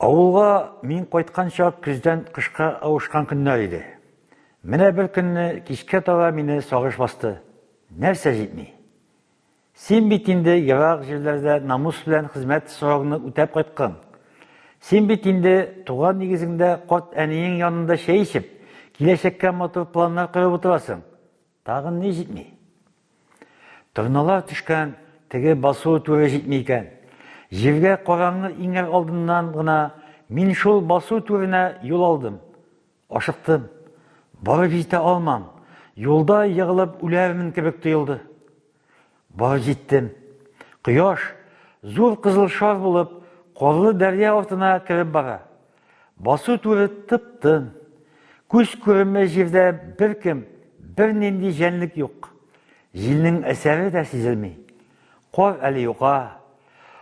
Авылга мин кайтканча көздән кышка авышкан көннәр иде. Менә бер көнне кичкә таба мине сагыш басты. Нәрсә җитми? Син бит инде ерак җирләрдә намус белән хезмәт сорауны үтәп кайткан. Син бит инде туган нигезеңдә карт әниең янында чәй эчеп, киләчәккә матур планнар корып утырасың. Тагын ни җитми? Торналар төшкән теге басу түре җитми икән. Җиргә караңгы иңәр алдыннан гына мин шул басу түренә юл алдым. Ашыктым. Барып җитә алмам. Юлда егылып үләрмен кебек тоелды. Бар җиттем. Кояш, зур кызыл шар булып, карлы дәрья артына кереп бара. Басу түры тып-тын. Күз күренмәй җирдә беркем, бернинди җәнлек юк. Җилнең әсәре дә сизелми. Кар әле юка.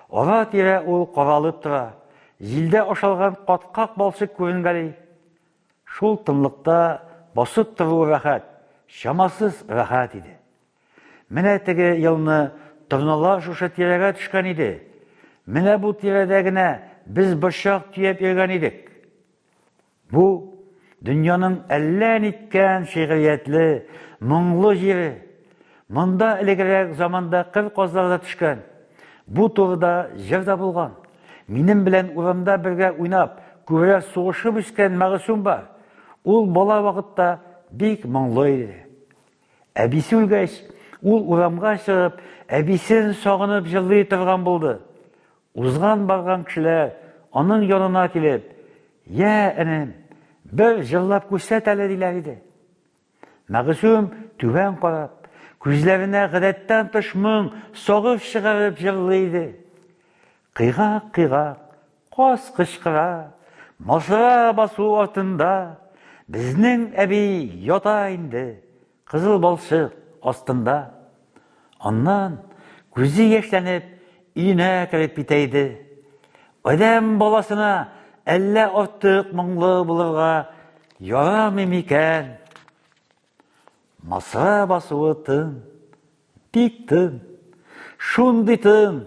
Ара-тирә ул каралып тора. Җилдә ашалган каткак балчык күренгәли. Шул тынлыкта басып тору рәхәт, чамасыз рәхәт иде. Менә теге елны торналар шушы тирәгә төшкән иде. Менә бу тирәдә генә без борчак төяп йөргән идек. Бу дөньяның әллә ниткән шигъриятле, моңлы җире. Монда элегрәк заманда кыр казлары да төшкән. Бу турыда җыр да булган. Минем белән урамда бергә уйнап, күрә сугышып үскән Мәгъсүм бар. Ул бала вакытта бик моңлы иде. Әбисе үлгәч, ул урамга чыгып, әбисен сагынып җырлый торган булды. Узган-барган кешеләр аның янына килеп, «Йә, энем, бер җырлап күрсәт әле», диләр иде. Мәгъсүм түбән карап, күзләренә гадәттән тыш моң сагып чыгарып җырлый иде. Кыйгак-кыйгак Каз кычкыра, мазыра басу артында безнең әби ята инде кызыл балчык астында. Аннан күзе яшьләнеп өенә кереп китә иде. Адәм баласына әллә артык моңлы булырга ярамый микән? Маса басуы тын, бик тын, шундый тын,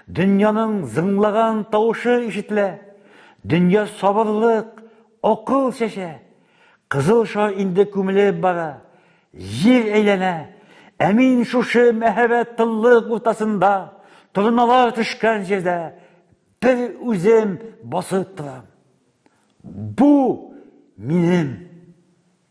дөньяның зыңлаган тавышы ишетелә, дөнья сабырлык, акыл чәчә, кызыл шар инде күмелеп бара, җир әйләнә, ә мин шушы мәһабәт тынлык уртасында, торналар төшкән җирдә бер үзем басып торам. Бу минем